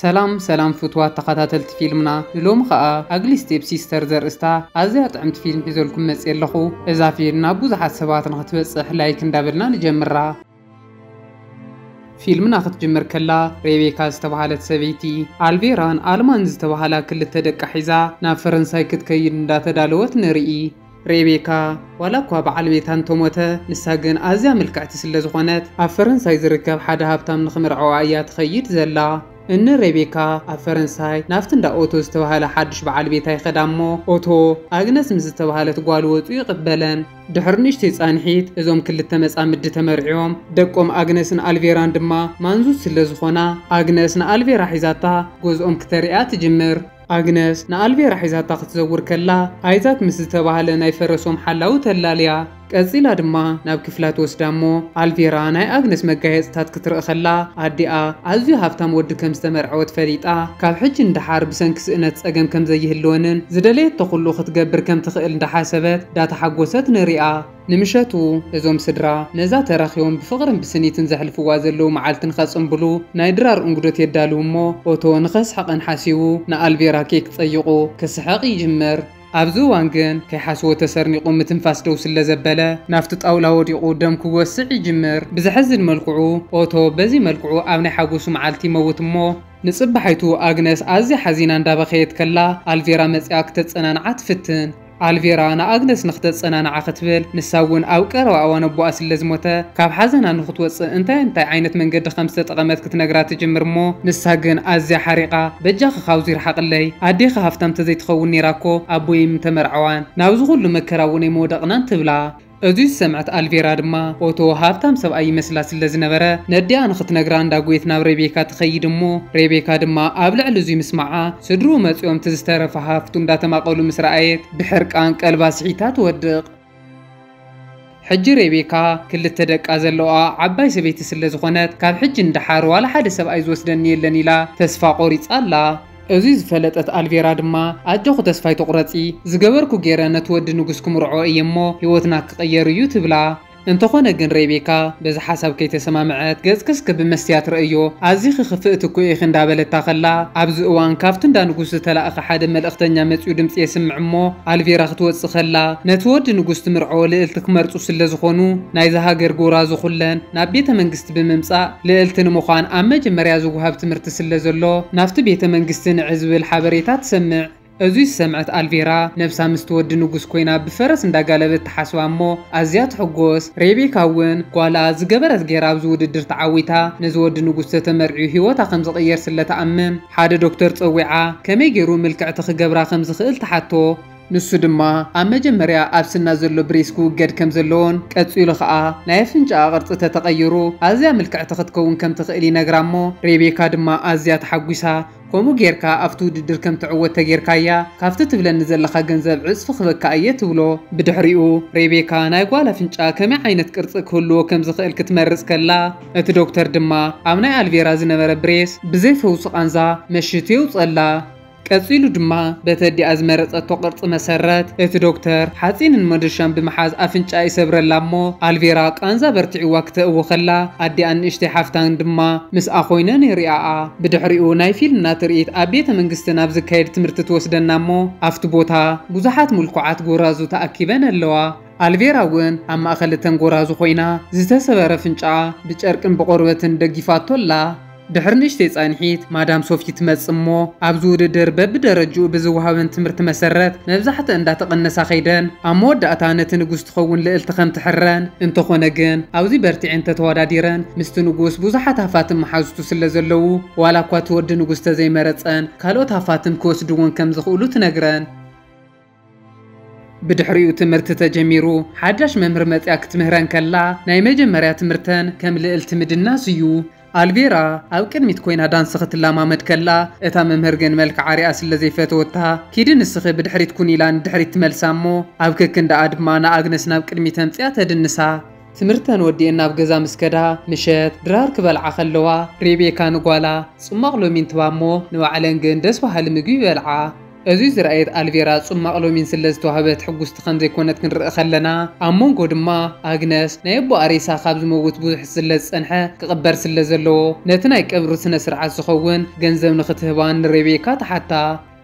ሰላም ሰላም ፍትዋት ተኻታተልቲ ፊልምና ንሎሚ ከኣ ኣግሊ ስቴፕ ሲስተር ዘርእስታ ኣዝያ ጥዕምቲ ፊልም ሒዘልኩም መጽየ ኣለኹ እዛ ፊልም ናብ ቡዙሓት ሰባት ንኽትበጽሕ ላይክ እንዳበልና ንጀምራ። ፊልምና ክትጅምር ከላ ሬቤካ ዝተባሃለት ሰበይቲ ኣልቬራን ኣልማን ዝተባሃላ ክልተ ደቃ ሒዛ ናብ ፈረንሳይ ክትከይድ እንዳተዳለወት ንርኢ። ሬቤካ ዋላ እኳ በዓል ቤታ እንተሞተ፣ ንሳ ግን ኣዝያ ምልክዕቲ ስለ ዝኾነት፣ ኣብ ፈረንሳይ ዝርከብ ሓደ ሃብታም ንኽምርዐዋ እያ ትኸይድ ዘላ። እኒ ሬቤካ ኣብ ፈረንሳይ ናብቲ እንዳ ኦቶ ዝተባህለ ሓዱሽ በዓል ቤታ ይኸዳ እሞ፣ ኦቶ፣ ኣግነስ ምስ ዝተባህለት ጓሉ ወጹ ይቕበለን። ድሕሪ ንእሽተይ ጻንሒት፣ እዞም ክልተ መጻምዲ ተመርዕዮም። ደቆም ኣግነስን ኣልቬራን ድማ ማንዙት ስለ ዝኾና፣ ኣግነስ ንኣልቬራ ሒዛታ ገዝኦም ክተርእያ ትጅምር። ኣግነስ ንኣልቬራ ሒዛታ ክትዘውር ከላ፣ ኣይዛክ ምስ ዝተባህለ ናይ ፈረሶም ሓላዊ ተላልያ። ቀጺላ ድማ ናብ ክፍላ ትወስዳ እሞ፣ ኣልቬራ ናይ ኣግነስ መጋየጽታት ክትርኢ ከላ፣ ኣዲኣ ኣዝዩ ሃብታም ወዲ ከም ዝተመርዐወት ፈሊጣ፣ ካብ ሕጂ ንደሓር ብሰንኪ ስእነት ጸገም ከም ዘይህልወንን ዝደለየቶ ኩሉ ክትገብር ከም ትኽእል እንዳሓሰበት ዳተሓጎሰት ንሪኣ። ንምሸቱ እዞም ስድራ ነዛ ተራኺቦም ብፍቕርን ብስኒትን ዘሕልፍዋ ዘለዉ መዓልቲ ንኸጽንብሉ ናይ ድራር እንግዶት የዳልዉ እሞ ኦቶ ንኸስሕቐን ሓሲቡ ንኣልቬራ ኬክ ጸይቑ ክስሕቕ ይጅምር። ኣብዚ እዋን ግን ከይሓስቦ ተሰርኒቑ ምትንፋስ ደው ስለዘበለ ናብቲ ጣውላ ወዲቑ ደም ክወስዕ ይጅምር። ብዘሕዝን መልክዑ ኦቶ በዚ መልክዑ ኣብ ናይ ሓጎሱ መዓልቲ ይመውት እሞ፣ ንጽባሒቱ ኣግነስ ኣዝያ ሓዚና እንዳበኸየት ከላ ኣልቬራ መጺኣ ክተጸናንዓ ትፍትን። ኣልቬራ ንኣግነስ ንኽተጸናንዓ ክትብል፣ ንሳ እውን ኣብ ቀረባ እዋን ኣቦኣ ስለ ዝሞተ ካብ ሓዘና ንኽትወጽእ እንታይ እንታይ ዓይነት መንገዲ ከም ዝተጠቐመት ክትነግራ ትጅምር እሞ፣ ንሳ ግን ኣዝያ ሓሪቓ በጃኺ ካብዚ ርሓቕለይ፣ ኣዴኺ ሃፍታም ተዘይትኸውን ኔራ እኮ ኣቦይ ኣይምተመርዐዋን፣ ናብዚ ኩሉ መከራ እውን ኣይምወደቕናን ትብላ። እዚ ዝሰምዐት ኣልቬራ ድማ ኦቶ ሃብታም ሰብኣይ ይመስላ ስለ ዝነበረ ነዲኣ ንኽትነግራ እንዳጎየት ናብ ሬቤካ ትኸይድ እሞ ሬቤካ ድማ ኣብ ልዕሊ እዙይ ምስማዓ ስድርኡ መፂኦም እቲ ዝተረፈ ሃፍቱ እንዳተማቐሉ ምስ ረኣየት ብሕርቃን ቀልባ ስሒታ ትወድቕ። ሕጂ ሬቤካ ክልተ ደቃ ዘለውኣ ዓባይ ሰበይቲ ስለ ዝኾነት ካብ ሕጂ ንደሓር ዋላ ሓደ ሰብኣይ ዝወስደኒ የለን ኢላ ተስፋ ቆሪፃ ኣላ። እዚ ዝፈለጠት ኣልቬራ ድማ ኣጆኺ ተስፋ ኣይትቑረጺ፣ ዝገበርኩ ገይረ ነቲ ወዲ ንጉስ ክምርዖ እየ እሞ ህይወትና ክቕየር እዩ ትብላ። እንተኾነ ግን ሬቤካ በዚ ሓሳብ ከይተሰማምዐት ገጽኪ እስከ ብመስትያት ርኣዮ ኣዚኺ ክፍእቲ እኮ ኢኺ እንዳበለታ ከላ ኣብዚ እዋን ካብቲ እንዳ ንጉስ ዝተላእከ ሓደ መልእኽተኛ መጺኡ ድምጺ የስምዕ እሞ ኣልቬራ ክትወጽእ ከላ ነቲ ወዲ ንጉስ ትምርዖ ልእልቲ ክመርጹ ስለዝኾኑ ናይዛ ሃገር ጎራዙ ኩለን ናብ ቤተ መንግስቲ ብምምጻእ ልእልቲ ንምዃን ኣብ መጀመርያ ዝወሃብ ትምህርቲ ስለ ዘሎ ናብቲ ቤተ መንግስቲ ንዕ ዝብል ሓበሬታ ትሰምዕ። እዙይ ዝሰምዐት ኣልቬራ ነብሳ ምስቲ ወዲ ንጉስ ኮይና ብፈረስ እንዳጋለበት ትሓስባ እሞ ኣዝያ ትሕጎስ። ሬቤካ እውን ጓላ ዝገበረት ገይራ ኣብዚ ውድድር ተዓዊታ ነዚ ወዲ ንጉስ ተተመርዕዩ ህይወታ ከም ዝቕየር ስለ ትኣምን ሓደ ዶክተር ጸዊዓ ከመይ ገይሩ ምልክዕቲ ክገብራ ከም ዝኽእል ትሓቶ። ንሱ ድማ ኣብ መጀመርያ ኣብ ስና ዘሎ ብሬስ ክውገድ ከም ዘለዎን ቀጺሉ ኸኣ ናይ ኣፍንጫኣ ቅርጺ ተተቐይሩ ኣዝያ ምልክዕቲ ክትከውን ከም ትኽእል ይነግራ እሞ ሬቤካ ድማ ኣዝያ ተሓጒሳ ከምኡ ጌርካ ኣብቲ ውድድር ከም ትዕወት ተጌርካያ ካብቲ ትብለኒ ዘለኻ ገንዘብ ዕጽፊ ክበካ እየ ትብሎ። ብድሕሪኡ ሬቤካ ናይ ጓል ኣፍንጫ ከመይ ዓይነት ቅርጺ ክህልዎ ከም ዝኽእል ክትመርጽ ከላ እቲ ዶክተር ድማ ኣብ ናይ ኣልቬራ ዝነበረ ብሬስ ብዘይ ፈውሲ ቃንዛ መሽቱ የውጸላ። ቀጺሉ ድማ በቲ ኣዲኣ ዝመረጸቶ ቅርጺ መሰረት፣ እቲ ዶክተር ሓጺንን መዶሻን ብምሓዝ ኣፍንጭኣ ይሰብረላ እሞ፣ ኣልቬራ ቃንዛ በርቲዕዋ ክተእዊ ከላ፣ ኣዲኣን ንእሽተይ ሓፍታን ድማ ምስኣ ኮይነን ይሪኣኣ። ብድሕሪኡ ናይ ፊልምና ትርኢት ኣብ ቤተ መንግስቲ ናብ ዝካየድ ትምህርቲ ትወስደና እሞ፣ ኣብቲ ቦታ ብዙሓት ምልኩዓት ጎራዙ ተኣኪበን ኣለዋ። ኣልቬራ እውን ኣብ ማእከል እተን ጎራዙ ኮይና ዝተሰበረ ኣፍንጭኣ ብጨርቅን ብቆርበትን ደጊፋቶ ኣላ። ድሕሪ ንእሽተይ ጻንሒት፣ ማዳም ሶፊ ትመጽእ እሞ፣ ኣብዚ ውድድር በብደረጅኡ ብዝወሃበን ትምህርቲ መሰረት መብዛሕትኣን እንዳተቐነሳ ከይደን ኣብ መወዳእታ ነቲ ንጉስ ትኸውን ልእልቲ ከም ትሕረን፣ እንተኾነ ግን ኣብዚ በርቲዐን ተተዋዳዲረን ምስቲ ንጉስ ብዙሓት ሃፋትም መሓዙቱ ስለ ዘለዉ ዋላ እኳ እቲ ወዲ ንጉስ ተዘይመረጸን ካልኦት ሃፋትም ክወስድወን ከም ዝኽእሉ ትነግረን። ብድሕሪኡ ትምህርቲ ተጀሚሩ ሓዳሽ መምህር መጽያ ክትምህረን ከላ ናይ መጀመርያ ትምህርተን ከም ልእልቲ ምድናስ እዩ። ኣልቬራ ኣብ ቅድሚት ኮይና ዳንሲ ክትለማመድ ከላ እታ መምህር ግን መልክዓ ሪኣ ስለ ዘይፈተወታ ኪዲ ንስኺ ብድሕሪት ኩኒ ኢላ ንድሕሪት ትመልሳ እሞ ኣብ ከክንድኣ ድማ ንኣግነስ ናብ ቅድሚት ኣምጺኣ ተድንሳ። ትምህርተን ወዲኤን ናብ ገዛ ምስ ከዳ ምሸት ድራር ክበልዓ ከለዋ ሬቤካ ንጓላ ጽሟቕ ሎሚን ትህባ እሞ ንባዕለን ግን ደስ በሃሊ ምግቢ ይበልዓ። እዙይ ዝረኣየት ኣልቬራ ጹማቕ ሎሚን ስለ ዝተዋህበት ሕጉስቲ ከም ዘይኮነት ክንርኢ ከለና ኣብ ሞንጎ ድማ ኣግነስ ናይ ኣቦኣ ሬሳ ካብ ዝመውት ብዙሕ ስለ ዝጸንሐ ክቕበር ስለ ዘለዎ ነቲ ናይ ቀብሪ ስነ ስርዓት ዝኸውን ገንዘብ ንኽትህባ ንሬቤካ ትሓታ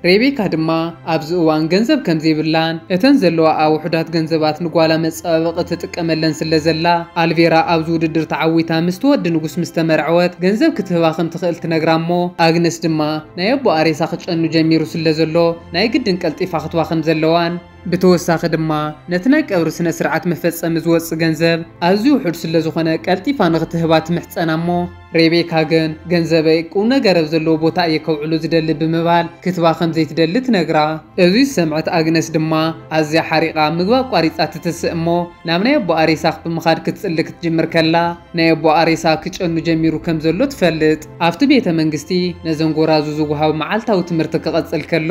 ሬቤካ ድማ ኣብዚ እዋን ገንዘብ ከም ዘይብላን እተን ዘለዋኣ ውሑዳት ገንዘባት ንጓላ መጸባበቒ ትጥቀመለን ስለ ዘላ ኣልቬራ ኣብዚ ውድድር ተዓዊታ ምስቲ ወዲ ንጉስ ምስ ተመርዐወት ገንዘብ ክትህባ ከም ትኽእል ትነግራ'ሞ ኣግነስ ድማ ናይ ኣቦኣ ሬሳ ክጨኑ ጀሚሩ ስለ ዘሎ ናይ ግድን ቀልጢፋ ክትባኽን ዘለዋን፣ ብተወሳኺ ድማ ነቲ ናይ ቀብሪ ስነ ስርዓት መፈጸሚ ዝወጽእ ገንዘብ ኣዝዩ ውሑድ ስለ ዝኾነ ቀልጢፋ ንኽትህባ ትምሕጸና እሞ ሬቤካ ግን ገንዘበይ ቁምነገር ኣብ ዘለዎ ቦታ እየ ከውዕሎ ዝደሊ ብምባል ክትባ ከም ዘይትደሊ ትነግራ። እዚ ዝሰምዐት ኣግነስ ድማ ኣዝያ ሓሪቓ ምግባ ኣቋሪጻ ትትስእ እሞ ናብ ናይ ኣቦኣ ሬሳ ብምኻድ ክትጽሊ ክትጅምር ከላ ናይ ኣቦኣ ሬሳ ክጨኑ ጀሚሩ ከም ዘሎ ትፈልጥ። ኣብቲ ቤተ መንግስቲ ነዘን ጎራዙ ዝወሃብ መዓልታዊ ትምህርቲ ክቐጽል ከሎ፣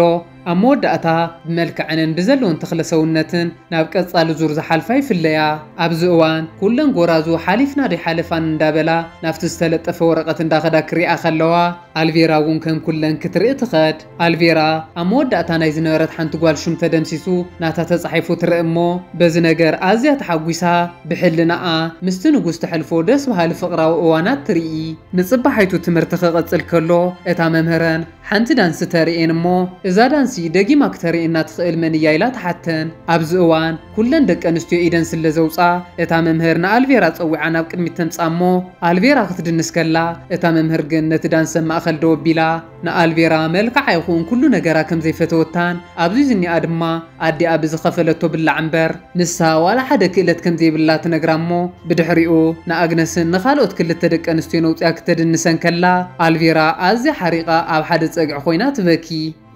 ኣብ መወዳእታ ብመልክዐንን ብዘለወን ተኽለ-ሰውነትን ናብ ቀጻሊ ዙር ዝሓልፋ ይፍለያ። ኣብዚ እዋን ኩለን ጎራዙ ሓሊፍና ደይሓለፋን እንዳበላ ናብቲ ዝተለጠፈ ወረቐት እንዳኸዳ ክሪኣ ከለዋ፣ ኣልቬራ'ውን ከም ኩለን ክትርኢ ትኸድ። ኣልቬራ ኣብ መወዳእታ ናይ ዝነበረት ሓንቲ ጓል ሹም ተደምሲሱ ናታ ተጻሒፉ ትርእ እሞ በዚ ነገር ኣዝያ ተሓጒሳ ብሕልናኣ ምስቲ ንጉስ ተሕልፎ ደስ በሃሊ ፍቕራዊ እዋናት ትርኢ። ንጽባሒቱ ትምህርቲ ክቕጽል ከሎ እታ መምህረን ሓንቲ ዳንሲ ተርእየን እሞ እዛ ዳንሲ ደጊማ ክተርእየና ትኽእል መን እያ ኢላ ትሓተን ኣብዚ እዋን ኩለን ደቂ ኣንስትዮ ኢደን ስለ ዘውጽኣ እታ መምህር ንኣልቬራ ጸዊዓ ናብ ቅድሚት ተምጽኣ እሞ ኣልቬራ ክትድንስ ከላ እታ መምህር ግን ነቲ ዳንሲ ኣብ ማእከል ደው ኣቢላ ንኣልቬራ መልክዓ ይኹን ኩሉ ነገራ ከም ዘይፈተወታን ኣብዚ ዝኒኣ ድማ ኣዲኣ ብዝኸፈለቶ ብላዕ እምበር ንሳ ዋላ ሓደ ክእለት ከም ዘይብላ ትነግራ እሞ ብድሕሪኡ ንኣግነስን ንኻልኦት ክልተ ደቂ ኣንስትዮን ኣውጺኣ ክተድንሰን ከላ ኣልቬራ ኣዝያ ሓሪቓ ኣብ ሓደ ጸግዒ ኮይና ትበኪ።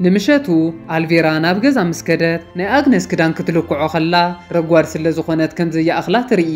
ንምሸቱ ኣልቬራ ናብ ገዛ ምስ ከደት ናይ ኣግነስ ክዳን ክትልክዖ ከላ ረጓድ ስለ ዝኾነት ከም ዘይኣኽላ ትርኢ።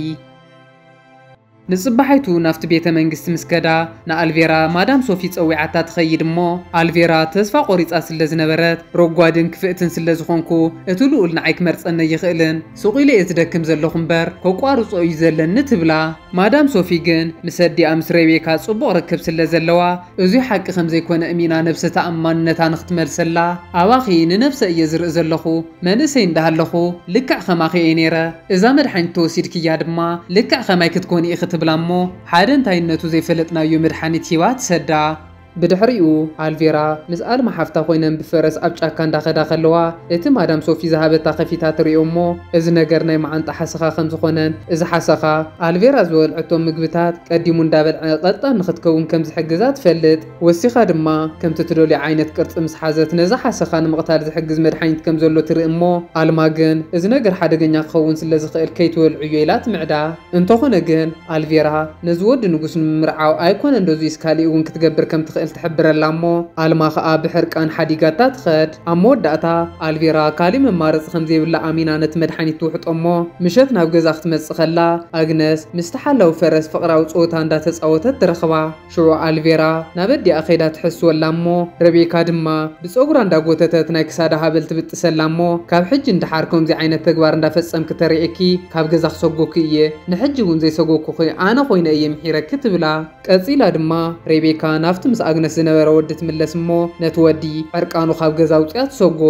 ንጽባሒቱ ናብቲ ቤተ መንግስቲ ምስ ከዳ ንኣልቬራ ማዳም ሶፊ ጸዊዓታ ትኸይድ እሞ ኣልቬራ ተስፋ ቆሪጻ ስለ ዝነበረት ረጓድን ክፍእትን ስለ ዝኾንኩ እቲ ልኡል ንዓይ ክመርጸኒ ኣይኽእልን ሱቕ ኢለ'የ ዝደክም ዘለኹ እምበር ከቋርጾ እዩ ዘለኒ ትብላ ማዳም ሶፊ ግን ምስ ኣዲኣ ምስ ሬቤካ ጽቡቕ ርክብ ስለ ዘለዋ እዙይ ሓቂ ከም ዘይኮነ እሚና ነብሰ ተኣማንነታ ንኽትመልሰላ ኣባኺ ንነብሰ እየ ዝርኢ ዘለኹ መንእሰይ እንዳሃለኹ ልክዕ ከማኺ እየ ነይረ እዛ መድሓኒት ተወሲድክያ ድማ ልክዕ ከማይ ክትኮኒ ኢኺ ትብላ እሞ ሓደ እንታይነቱ ዘይፈለጥናዮ መድሓኒት ሂባ ትሰዳ። ብድሕሪኡ ኣልቬራ ምስ ኣልማ ሓፍታ ኮይነን ብፈረስ ኣብ ጫካ እንዳኸዳ ከለዋ እቲ ማዳም ሶፊ ዝሃበታ ከፊታ ትሪኦ እሞ እዚ ነገር ናይ መዓንጣ ሓሰኻ ከም ዝኾነን እዚ ሓሰኻ ኣልቬራ ዝበልዐቶ ምግብታት ቀዲሙ እንዳበልዐ ቀልጣን ንኽትከውን ከም ዝሕግዛ ትፈልጥ። ወሲኻ ድማ፣ ከምቲ ትደልዮ ዓይነት ቅርጺ ምስ ሓዘት፣ ነዚ ሓሰኻ ንምቕታል ዝሕግዝ መድሓኒት ከም ዘሎ ትርኢ እሞ፣ ኣልማ ግን እዚ ነገር ሓደገኛ ክኸውን ስለ ዝኽእል ከይትበልዑዮ ኢላ ትምዕዳ። እንተኾነ ግን፣ ኣልቪራ ነዚ ወዲ ንጉስ ንምምርዓው ኣይኮነን ዶዚይስ ካሊእ'ውን ክትገብር ከም ትኽእል ትሕብረላ እሞ፣ ኣልማ ኸኣ ብሕርቃን ሓዲጋታ ትኸድ። ኣብ መወዳእታ፣ ኣልቪራ ካሊእ መማረጺ ከም ዘይብላ ኣሚና ነቲ መድሓኒት ትውሕጦ እሞ፣ ምሸት ናብ ገዛ ክትመጽእ ከላ፣ ኣግነስ ምስቲ ሓላዊ ፈረስ ፍቕራዊ ጸወታ እንዳ ተጻወተት ትረኽባ። ሽዑ ኣልቬራ ናብ ኣዲኣ ከይዳ ትሕስወላ እሞ ረቤካ ድማ ብጸጉራ እንዳጎተተት ናይ ክሳዳ ሃበል ትብጥሰላ እሞ ካብ ሕጂ ንደሓር ከምዚ ዓይነት ተግባር እንዳፈጸምኪ ተሪኤኪ ካብ ገዛ ክሰጎኪ እየ ንሕጂ ውን ዘይሰጎኩኪ ኣነ ኮይነ እየ ምሒረኪ ትብላ ቀጺላ ድማ ሬቤካ ናብቲ ምስ ኣግነስ ዝነበረ ወዲ ትምለስ እሞ ነቲ ወዲ ዕርቃኑ ካብ ገዛ ኣውጺኣ ትሰጎ።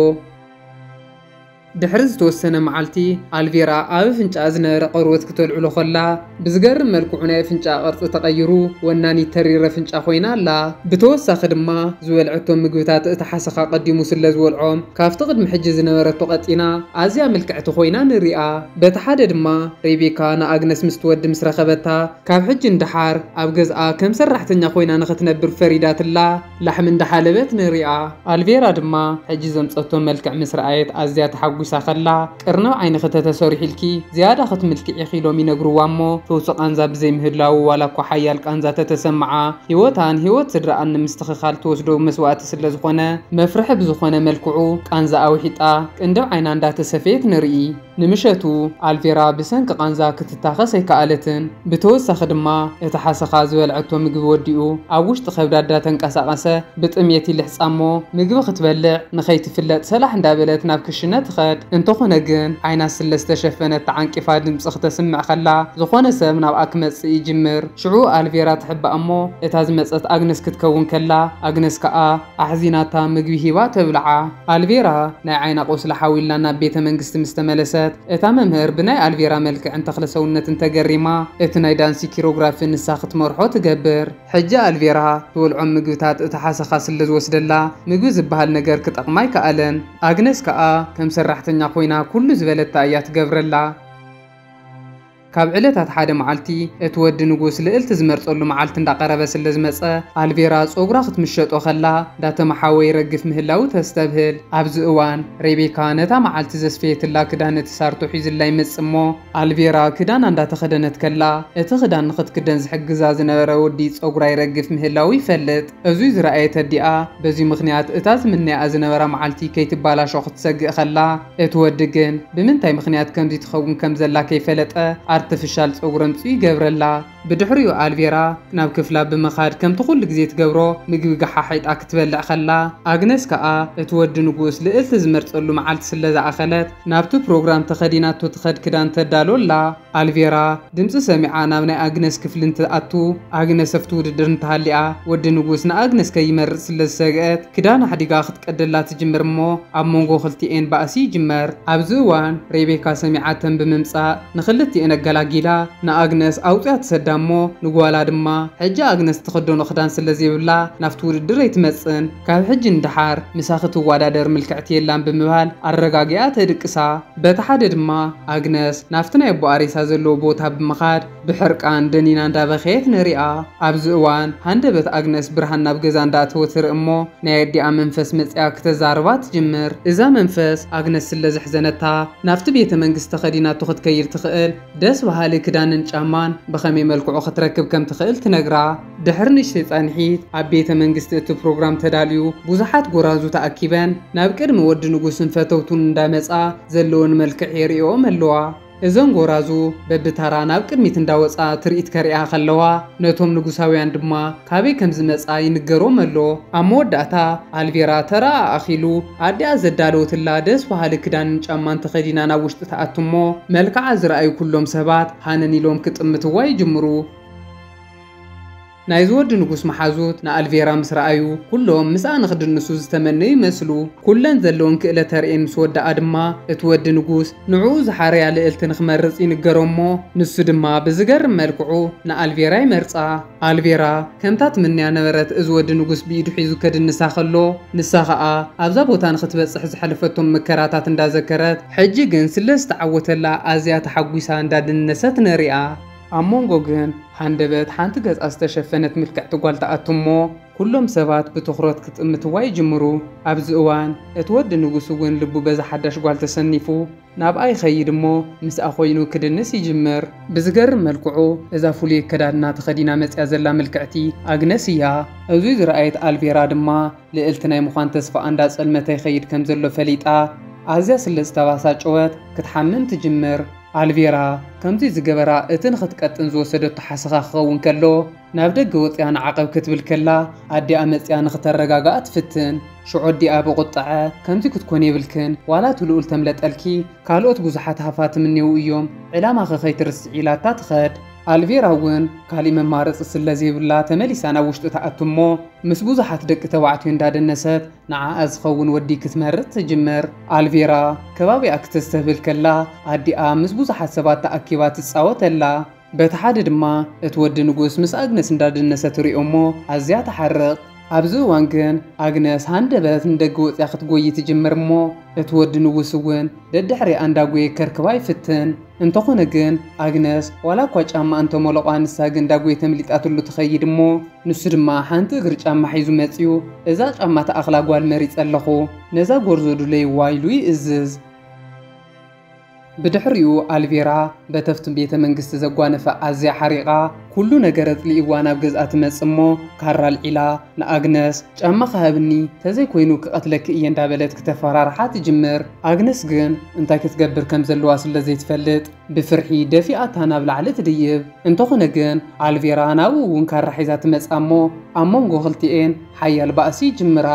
ድሕሪ ዝተወሰነ መዓልቲ፣ ኣልቬራ ኣብ ኣፍንጫኣ ዝነበረ ቘርበት ክተልዕሎ ኸላ፣ ብዝገርም መልክዑ ናይ ኣፍንጫኣ ቅርጺ ተቐይሩ ወናኒት ተሪር ኣፍንጫ ኾይና ኣላ። ብተወሳኺ ድማ፣ ዝበልዐቶም ምግብታት እቲ ሓሰኻ ኣቐዲሙ ስለ ዝበልዖም፣ ካብቲ ቅድሚ ሕጂ ዝነበረቶ ቀጢና ኣዝያ ምልክዕቲ ኾይና ንርእያ። በቲ ሓደ ድማ፣ ሬቤካ ንኣግነስ ምስቲ ወዲ ምስ ረኸበታ፣ ካብ ሕጂ ንደሓር ኣብ ገዝኣ ከም ሰራሕተኛ ኾይና ንኽትነብር ፈሪዳትላ። ላሕሚ እንዳሓለበት ንሪኣ። ኣልቬራ ድማ ሕጂ ዘምጸቶ መልክዕ ምስ ረኣየት ኣዝያ ተሓጒሳ ከላ፣ ቅርንብ ዓይንኺ ተተሰሪሑልኪ ዝያዳ ክትምልክዒ ኢኺ ኢሎም ይነግርዋ እሞ ፍውሲ ቃንዛ ብዘይ ምህላዉ ዋላ እኳ ሓያል ቃንዛ ተተሰመዓ ህይወታን ህይወት ስድራኣን ንምስትኽኻል ትወስዶ መስዋእቲ ስለ ዝኾነ መፍርሒ ብዝኾነ መልክዑ ቃንዛኣ ውሒጣ ቅንድብ ዓይና እንዳተሰፈየት ንርኢ። ንምሸቱ ኣልቬራ ብሰንኪ ቃንዛ ክትታኸስ ኣይከኣለትን፣ ብተወሳኺ ድማ እቲ ሓሰኻ ዝበልዐቶ ምግቢ ወዲኡ ኣብ ውሽጢ ከብዳ እዳተንቀሳቐሰ ብጥምየት ይልሕጻ'ሞ ምግቢ ክትበልዕ ንኸይትፍለጥ ሰላሕ እንዳበለት ናብ ክሽነ ትኸድ። እንተኾነ ግን ዓይና ስለ ዝተሸፈነት ተዓንቂፋ ድምጺ ክተስምዕ ከላ ዝኾነ ሰብ ናብኣ ክመጽእ ይጅምር። ሽዑ ኣልቬራ ትሕባእ'ሞ እታ ዝመጸት ኣግነስ ክትከውን ከላ ኣግነስ ከኣ። ኣሕዚናታ ምግቢ ሂባ ተብልዓ። ኣልቬራ ናይ ዓይና ቁስሊ ሓዊላ ናብ ቤተ መንግስቲ ምስ ተመለሰት፣ እታ መምህር ብናይ ኣልቬራ መልክዕን ተኽለ ሰውነትን ተገሪማ እቲ ናይ ዳንሲ ኪሮግራፊ ንሳ ክትመርሖ ትገብር። ሕጂ ኣልቬራ ትበልዖም ምግብታት እቲ ሓሰኻ ስለ ዝወስደላ ምግቢ ዝበሃል ነገር ክጠቕማ ኣይከኣለን። ኣግነስ ከኣ ከም ሰራሕተኛ ኮይና ኩሉ ዝበለታ እያ ትገብረላ። ካብ ዕለታት ሓደ መዓልቲ፣ እቲ ወዲ ንጉስ ልእልቲ ዝመርጸሉ መዓልቲ እንዳቀረበ ስለ ዝመጸ፣ ኣልቬራ ጸጉራ ክትምሸጦ ከላ እንዳተመሓወ ይረግፍ ምህላዉ ተስተብህል። ኣብዚ እዋን፣ ሬቤካ ነታ መዓልቲ ዘስፈየትላ ክዳን እቲ ሳርቶ ሒዙላ ይመጽእ እሞ፣ ኣልቬራ ክዳና እንዳተኸደነት ከላ፣ እቲ ክዳን ንኽትክደን ዝሕግዛ ዝነበረ ወዲ ጸጉራ ይረግፍ ምህላዉ ይፈልጥ። እዙይ ዝረኣየት ኣዲኣ፣ በዚ ምኽንያት እታ ዝምነያኣ ዝነበራ መዓልቲ ከይትባላሾ ክትሰግእ ከላ፣ እቲ ወዲ ግን ብምንታይ ምኽንያት ከምዚ ትኸውን ከም ዘላ ከይፈለጠ ኣርተፍሻል ጸጉሪ ኣምጺኡ ይገብረላ። ብድሕሪኡ ኣልቬራ ናብ ክፍላ ብምኻድ ከምቲ ኩሉ ግዜ ትገብሮ ምግቢ ገሓሒጣ ክትበልዕ ከላ፣ ኣግነስ ከኣ እቲ ወዲ ንጉስ ልእልቲ ዝመርጸሉ መዓልቲ ስለ ዝኣኸለት ናብቲ ፕሮግራም ተኸዲናቶ ትኸድ ክዳን ተዳሉ ኣላ። ኣልቬራ ድምጺ ሰሚዓ ናብ ናይ ኣግነስ ክፍሊ እንትኣቱ፣ ኣግነስ ኣብቲ ውድድር እንተሃሊኣ፣ ወዲ ንጉስ ንኣግነስ ከይመርጽ ስለ ዝሰግኣት፣ ክዳን ኣሕዲጋ ክትቀደላ ትጅምር እሞ ኣብ መንጎ ክልቲኤን ባእሲ ይጅመር። ኣብዚ እዋን ሬቤካ ሰሚዓተን ብምምጻእ ንኽልቲኤን ኣገላጊላ ንኣግነስ ኣውጺኣ ትሰዳ እሞ ንጓላ ድማ ሕጂ ኣግነስ እትኽደኖ ክዳን ስለ ዘይብላ ናብቲ ውድድር ኣይትመጽን ካብ ሕጂ ንደሓር ምሳኺ ትወዳደር ምልክዕቲ የላን ብምባል ኣረጋጊኣ ተድቅሳ። በቲ ሓደ ድማ ኣግነስ ናብቲ ናይ ኣቦኣ ሬሳ ዘለዎ ቦታ ብምኻድ ብሕርቃን ደኒና እንዳበኸየት ንሪኣ። ኣብዚ እዋን ሃንደበት ኣግነስ ብርሃን ናብ ገዛ እንዳእተወ ትርኢ እሞ ናይ ኣዲኣ መንፈስ መጺኣ ክተዛርባ ትጅምር። እዛ መንፈስ ኣግነስ ስለ ዘሕዘነታ ናብቲ ቤተ መንግስቲ ተኸዲናቶ ክትከይድ ትኽእል ደስ በሃሊ ክዳንን ጫማን ብኸመይ መልክዑ ክትረክብ ከም ትኽእል ትነግራ። ድሕሪ ንእሽተይ ጻንሒት፣ ኣብ ቤተ መንግስቲ እቲ ፕሮግራም ተዳልዩ፣ ብዙሓት ጎራዙ ተኣኪበን ናብ ቅድሚ ወዲ ንጉስን ፈተውቱን እንዳመጻ ዘለወን መልክዕ የርእየኦም ኣለዋ። እዘን ጎራዙ በብታራ ናብ ቅድሚት እንዳወጻ ትርኢት ከርእያ ከለዋ፣ ነቶም ንጉሳውያን ድማ ካበይ ከም ዝመጻ ይንገሮም ኣሎ። ኣብ መወዳእታ፣ ኣልቬራ ተራኣ ኣኺሉ፣ ኣዲኣ ዘዳለወትላ ደስ በሃሊ ክዳንን ጫማን ተኸዲና ናብ ውሽጢ ትኣቱ'ሞ፣ መልክዓ ዝረኣዩ ኩሎም ሰባት ሃነን ኢሎም ክጥምትዋ ይጅምሩ። ናይዚ ወዲ ንጉስ መሓዙት ንኣልቬራ ምስ ረኣዩ ኩሎም ምስኣ ንክድንሱ ዝተመነዩ ይመስሉ። ኩለን ዘለወን ክእለ ተርእየን ምስ ወደኣ ድማ እቲ ወዲ ንጉስ ንዕኡ ዝሓረያ ልእልቲ ንክመርጽ ይንገሮ እሞ ንሱ ድማ ብዝገርም መልክዑ ንኣልቬራ ይመርጻ። ኣልቬራ ከምታ ትምነያ ነበረት እዚ ወዲ ንጉስ ብኢዱ ሒዙ ከድንሳ ከሎ ንሳ ከኣ ኣብዛ ቦታ ንክትበጽሕ ዝሐለፈቶም መከራታት እንዳዘከረት ሕጂ ግን ስለ ዝተዓወተላ ኣዝያ ተሓጒሳ እንዳደነሰት ንሪኣ። ኣብ መንጎ ግን ሃንደበት ሓንቲ ገጻ ዝተሸፈነት ምልክዕቲ ጓል ትኣቱ እሞ፣ ኩሎም ሰባት ብትኹረት ክጥምትዋ ይጅምሩ። ኣብዚ እዋን እቲ ወዲ ንጉስ እውን ልቡ በዛ ሓዳሽ ጓል ተሰኒፉ ናብኣ ይኸይድ እሞ ምስኣ ኮይኑ ክድንስ ይጅምር። ብዝገርም መልክዑ እዛ ፍሉይ ኣከዳድና ተኸዲና መጺኣ ዘላ ምልክዕቲ ኣግነስ እያ። እዙይ ዝረኣየት ኣልቬራ ድማ ልእልቲ ናይ ምዃን ተስፋኣ እንዳጸልመተ ይኸይድ ከምዘሎ ፈሊጣ ኣዝያ ስለዝተባሳጨወት ክትሓምም ትጅምር። ኣልቬራ ከምዚ ዝገበራ እቲ ንኽትቀጥን ዝወሰደቶ ሓሰኻ ክኸውን ከሎ ናብ ደገ ወጺኣ ንዓቐብ ክትብል ከላ ኣዲኣ መጺኣ ንኽተረጋግኣ ትፍትን ሽዑ ኣዲኣ ብቑጠዐ ከምዚ ክትኮኒ የብልክን ዋላ እቲ ልኡል ተምለጠልኪ ካልኦት ብዙሓት ሃፋትም እኔዉ እዮም ዕላማኺ ከይትርስዒ ኢላታ ትኸድ ኣልቬራ ውን ካሊእ መማረጺ ስለዘይብላ ተመሊሳ ናብ ውሽጢ ትኣቱ እሞ ምስ ብዙሓት ደቂ ተባዕትዮ እንዳደነሰት ንዓኣ ዝኸውን ወዲ ክትመርጽ ትጅምር። ኣልቬራ ከባቢኣ ክተስተብህል ከላ ኣዲኣ ምስ ብዙሓት ሰባት ተኣኪባ ትጻወት ኣላ። በቲ ሓደ ድማ እቲ ወዲ ንጉስ ምስ ኣግነስ እንዳደነሰ ትሪኦ'ሞ ኣዝያ ትሓርቕ። ኣብዚ እዋን ግን ኣግነስ ሃንደበት ንደገ ወጺኣ ክትጎዪ ትጅምር እሞ እቲ ወዲ ንጉስ እውን ደድሕሪኣ እንዳጎየ ከርክባ ይፍትን። እንተኾነ ግን ኣግነስ ዋላ እኳ ጫማኣ እንተሞለቖ ንሳ ግን ዳጎይ ተምሊጣትሉ ትኸይድ እሞ ንሱ ድማ ሓንቲ እግሪ ጫማ ሒዙ መጺኡ እዛ ጫማ ትኣኽላ ጓል መሪጸ ኣለኹ ነዛ ጎርዞ ዱለይዋ ኢሉ ይእዝዝ። ብድሕሪኡ ኣልቬራ በተፍቲ ቤተ መንግስቲ ዘጓነፈ ኣዝያ ሓሪቓ፣ ኩሉ ነገር ኣጽሊእዋ ናብ ገዝኣ ትመጽእ እሞ ካራ ኣልዒላ ንኣግነስ ጫማኺ ሃብኒ ተዘይ ኮይኑ ክቀትለኪ እየ እንዳበለት ክተፈራርሓ ትጅምር ኣግነስ ግን እንታይ ክትገብር ከም ዘለዋ ስለ ዘይትፈልጥ ብፍርሒ ደፊኣታ ናብ ላዕሊ ትድይብ እንተኾነ ግን ኣልቬራ ናብኡ ውን ካራ ሒዛ ትመጽኣ እሞ ኣብ መንጎ ክልቲኤን ሓያል ባእሲ ይጅምራ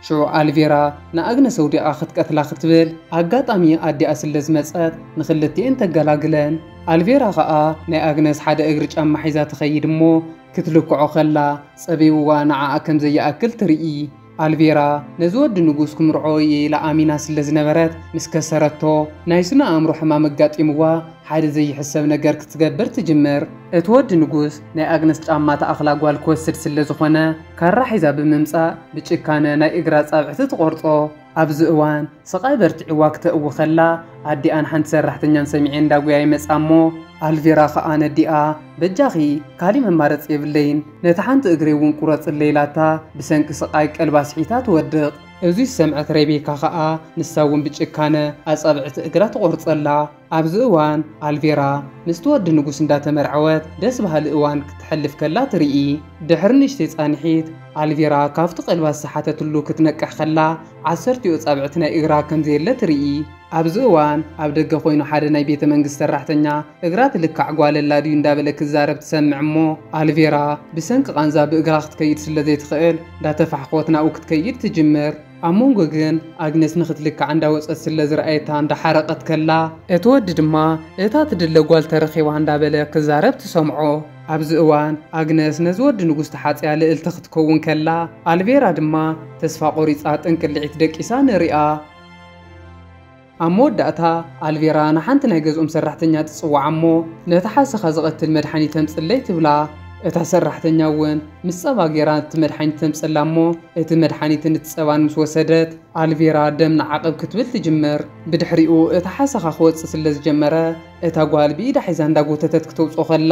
ሽዑ ኣልቬራ ንኣግነስ ኣውዲቃ ክትቀትላ ክትብል ኣጋጣሚ ኣዲኣ ስለ ዝመጸት ንክልቲኤን ተገላግለን። ኣልቬራ ከኣ ናይ ኣግነስ ሓደ እግሪ ጫማ ሒዛ ትኸይድ እሞ ክትልክዖ ከላ ጸቢብዋ ንዓኣ ከም ዘይኣክል ትርኢ። ኣልቬራ ነዚ ወዲ ንጉስ ክምርዖ እየ ኢላ ኣሚና ስለ ዝነበረት ምስ ከሰረቶ ናይ ስነ ኣእምሮ ሕማም ኣጋጢምዋ ሓደ ዘይሕሰብ ነገር ክትገብር ትጅምር። እቲ ወዲ ንጉስ ናይ ኣግነስ ጫማ ትኣኽላ ጓል ክወስድ ስለ ዝኾነ ካራ ሒዛ ብምምጻእ ብጭካነ ናይ እግራ ኣጻብዕቲ ትቖርጾ። ኣብዚ እዋን ስቓይ በርቲዕዋ ክተእዊ ከላ ኣዲኣን ሓንቲ ሰራሕተኛን ሰሚዔ እንዳጉያ ይመጻ እሞ ኣልቪራ ከኣ ነዲኣ በጃኺ ካሊእ መማረጺ የብለይን ነታ ሓንቲ እግረይ እውን ቁረጽለይ ኢላታ ብሰንኪ ስቓይ ቀልባ ስሒታ ትወድቕ። እዚ ዝሰምዐት ሬቤካ ከኣ ንሳ እውን ብጭካነ ኣጻብዕቲ እግራ ትቆርጸላ። ኣብዚ እዋን ኣልቬራ ምስቲ ወዲ ንጉስ እንዳተመርዐወት ደስ በሃሊ እዋን ክተሕልፍ ከላ ትርኢ። ድሕሪ ንእሽተይ ጻንሒት ኣልቬራ ካብቲ ቀልባ ዝሰሓተትሉ ክትነቅሕ ከላ ዓሰርቲኡ ኣጻብዕቲ ናይ እግራ ከም ዘየለ ትርኢ። ኣብዚ እዋን ኣብ ደገ ኮይኑ ሓደ ናይ ቤተ መንግስቲ ሰራሕተኛ እግራ እቲ ልካዕ ጓል ኣላ ድዩ እንዳበለ ክዛረብ ትሰምዕ እሞ ኣልቬራ ብሰንኪ ቃንዛ ብእግራ ክትከይድ ስለ ዘይትኽእል እንዳተፋሕኮት ናብኡ ክትከይድ ትጅምር። ኣብ መንጎ ግን ኣግነስ ንክትልካዕ እንዳ ወጸት ስለ ዝረኣየታ እንዳ ሓረቀት ከላ እቲ ወዲ ድማ እታ ትድለ ጓል ተረኪባ እንዳ በለ ክዛረብ ትሰምዖ። ኣብዚ እዋን ኣግነስ ነዚ ወዲ ንጉስ ተሓጽያ ልእልቲ ክትከውን ከላ ኣልቬራ ድማ ተስፋ ቆሪጻ ጥንቅሊዒት ደቂሳ ንሪኣ። ኣብ መወዳእታ፣ ኣልቬራ ንሓንቲ ናይ ገዝኦም ሰራሕተኛ ትጽውዓ እሞ፣ ነታ ሓሰኻ ዝቐትል መድሓኒት ተምጽለይ ትብላ። እታ ሰራሕተኛ እውን ምስ ጸባ ገይራ እቲ መድሓኒት ተምጸላ እሞ፣ እቲ መድሓኒትን እቲ ጸባን ምስ ወሰደት፣ ኣልቬራ ደም ንዓቕብ ክትብል ትጅምር። ብድሕሪኡ እቲ ሓሰኻ ክወጽእ ስለ ዝጀመረ፣ እታ ጓል ብኢዳ ሒዛ እንዳጎተተት ክተውጽኦ ከላ፣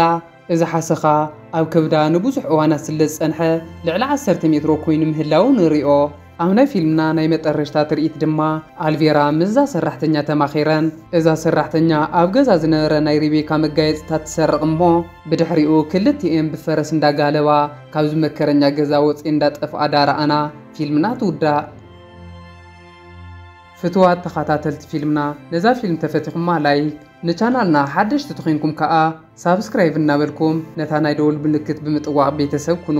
እዚ ሓሰኻ ኣብ ከብዳ ንብዙሕ እዋናት ስለዝጸንሐ ልዕሊ ዓሰርተ ሜትሮ ኮይኑ ምህላዉ ንሪኦ። ኣብ ናይ ፊልምና ናይ መጠረሽታ ትርኢት ድማ ኣልቬራ ምስዛ ሰራሕተኛ ተማኺረን። እዛ ሰራሕተኛ ኣብ ገዛ ዝነበረ ናይ ሪቤካ መጋየጽታት ትሰርቕ እሞ ብድሕሪኡ ክልቲኤን ብፈረስ እንዳጋለባ ካብዚ መከረኛ ገዛ ወጺኤን እንዳጠፍኣ ዳረኣና ፊልምና ትውዳእ። ፍትዋት ተኻታተልቲ ፊልምና ነዛ ፊልም ተፈቲኹማ ላይክ ንቻናልና ሓደሽቲ ተኾይንኩም ካኣ ሳብስክራይቭ እናበልኩም ነታ ናይ ደወል ምልክት ብምጥዋቅ ቤተሰብ ኩኑ።